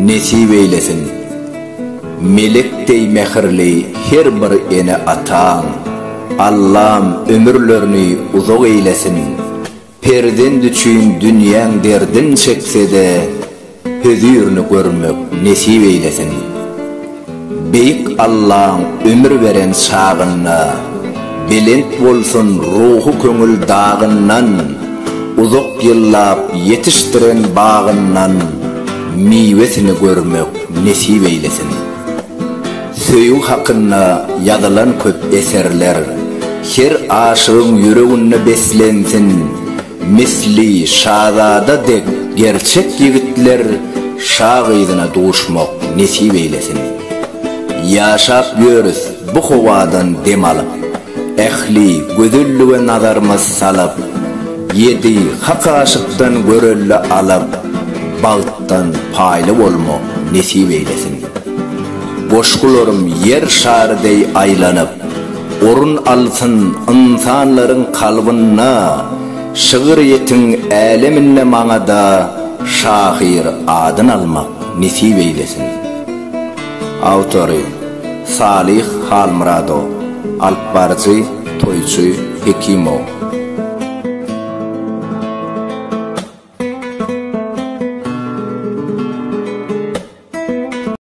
Nesip eýlesin! Melek deý mähirli her bir ene ataň Allam ömürlerini uzak eýlesin! Perzent üçin dünýäň derdin çeksede Hözirini görmek nesip eýlesin. Beýik Allaň ömür beren çagynda belent bolsun ruhy köňül dagyndan uzak ýyllap ýetişdiren bagyndan miwesini görmek nesip eýlesin. Söýgi hakynda ýazylan köp eserler her aşygyň ýüreginde beslensin. Misli şazada dek gerçek ýigitler şa gyzyna duşmak nesip eýlesin. Ýaşap ýörüs bu howadan dem alyp, ähli gözellige nazarymyz salyp, ýedi hak aşykdan görelde alyp, bagtdan paýly bolmak nesip eýlesin. Goşgularym ýer şary deý aýlanyp. Orun alsyn ynsanlaryň kalbynda Şygyrýetiň äleminde maňada Şahyr adyn almak nesip eýlesin. Awtory, Salyh Halmyradow, alyp baryjy, Toýçy Hekimow.